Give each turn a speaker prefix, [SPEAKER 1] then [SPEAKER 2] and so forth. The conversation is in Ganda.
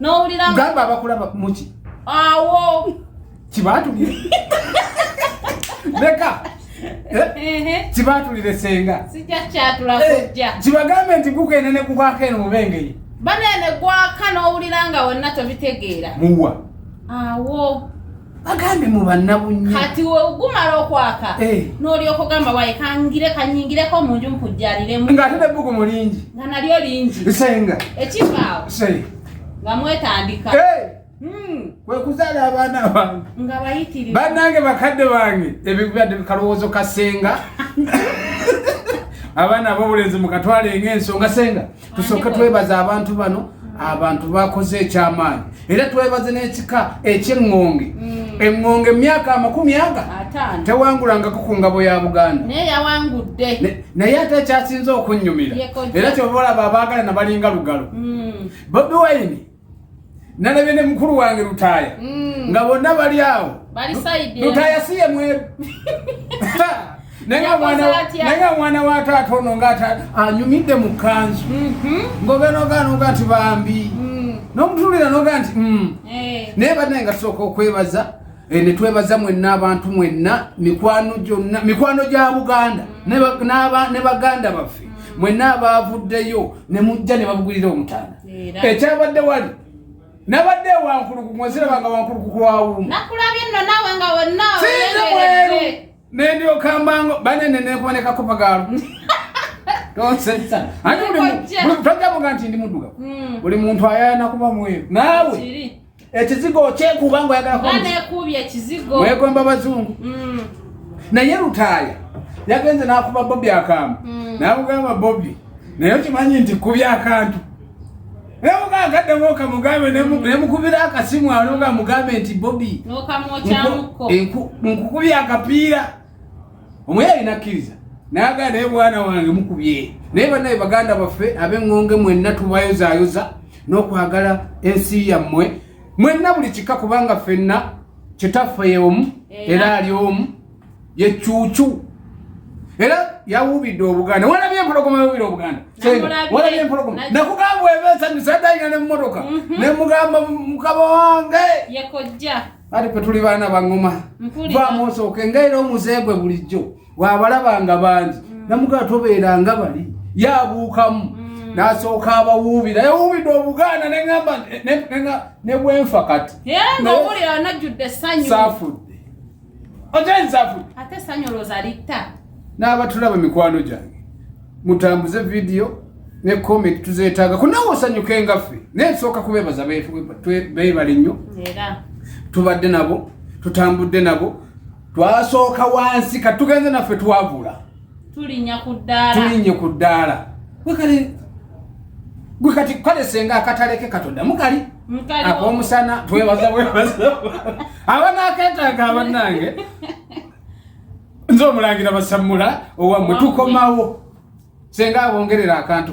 [SPEAKER 1] nowulira gamba abakulaba
[SPEAKER 2] muki awo
[SPEAKER 1] kibatulire
[SPEAKER 2] leka eh? kibatulire senga eh,
[SPEAKER 1] kibagambe nti gugende
[SPEAKER 2] ne gugwako eno mubengeye banene gwaka
[SPEAKER 1] nowulira nga wonna tobitegeera muwa
[SPEAKER 2] awo
[SPEAKER 1] bagambye
[SPEAKER 2] mu bannabunnya kati wegumala
[SPEAKER 1] okwaka eh. n'olyoka ogamba waye kangire kanyingireko mu nju nkujjaliremu ng'ate nebbugu mu
[SPEAKER 2] lingi nga nalyo lingi
[SPEAKER 1] senga
[SPEAKER 2] ekivaawo nga mwetandika
[SPEAKER 1] eh. hmm.
[SPEAKER 2] kwekuzaala abaana bange nga bayitirivu
[SPEAKER 1] bannange bakadde
[SPEAKER 2] bange ebibadde kalowoozo kasenga abaana ab'obulenzi mukatwale ng'ensonga senga tusooke twebaza abantu bano abantu bakoze ekyamaanyi era twebaze n'ekika ekyeŋŋonge mm. eŋŋonge emyaka amakumi aga tewangulangako ku ngabo ya buganda
[SPEAKER 1] naye ate ekyasinze
[SPEAKER 2] okunnyumira era kyoba olaba abaagala nabalinga lugalo mm. bobi wayini nalabye ne mukulu wange lutaaya mm. nga bonna bali awo
[SPEAKER 1] lutaaya si ye mweru
[SPEAKER 2] naye nga mwana wa taata ono ngaata anyumidde mu kanzu mm-hmm. ngobenogaanoga nti bambi mm. nomutulira noga nti mm. eh. naye banaye nga tusooka okwebaza eh, netwebaza mwenna abantu mwenna mikwano gyonna mikwano gya buganda mm. ne baganda baffe mwenna abaavuddeyo ne mujja ne babugulira omutanda ekyabadde wali nabadde wankulukuku mweziraba nga wankuluku kwawuuma
[SPEAKER 1] sinze mweru
[SPEAKER 2] nendyokambango banene nekuboneka kopagaalo tojjamuga nti ndi muddugavu hmm. buli muntu ayayana kuba mweru naawe ekizigo okyekuba nga oyagalakuubye ekizigo
[SPEAKER 1] wegomba bazungu
[SPEAKER 2] mm. naye lutaaya yagenze nakuba bobi akambe mm. namugamba bobi naye okimanyi nti kubya akantu nemugagademu okamugambe nemukubira akasimu anoga mugambe nti bobi
[SPEAKER 1] nkukubya
[SPEAKER 2] akapiira omuyali nakkiriza nagala naye mwana wange mukubye naye banaye baganda baffe abeng'onge mwenna tubayozayoza n'okwagala ensi yammwe mwenna buli kika kubanga ffenna kitaffe yeomu era ali omu yecuucu era yawubidde obuganda walabye empologoma yawubira obuganda walabye empologoma nakugamba ebe esanyusa dayina nemumotoka mhm. nemugamba mukaba wange
[SPEAKER 1] ati pe tuli
[SPEAKER 2] baana bangoma vamu osooke nga era omuze gwe bulijjo wabalaba nga bangi mm. namugaa tobeera nga bali yabuukamu mm. nasooka abawuubira yawuubidde obuganda neamba nebwenfa kati
[SPEAKER 1] safudde
[SPEAKER 2] otensafuddnaabatulaba mikwano gyange mutambuze video ne comment tuzetaaga ku nawe osanyuke nga ffe naye tusooka kubeebaza beebale nnyo tubadde nabo tutambudde nabo twasooka wansi kati tugenze naffe twavula
[SPEAKER 1] tulinye ku ddaala
[SPEAKER 2] gwe kati kale senga akataleke katonda mukali akomusana twebaza bwebaza abanaketaaga abanange nze omulangira basamula owamwe tukomawo senga abongerera akantu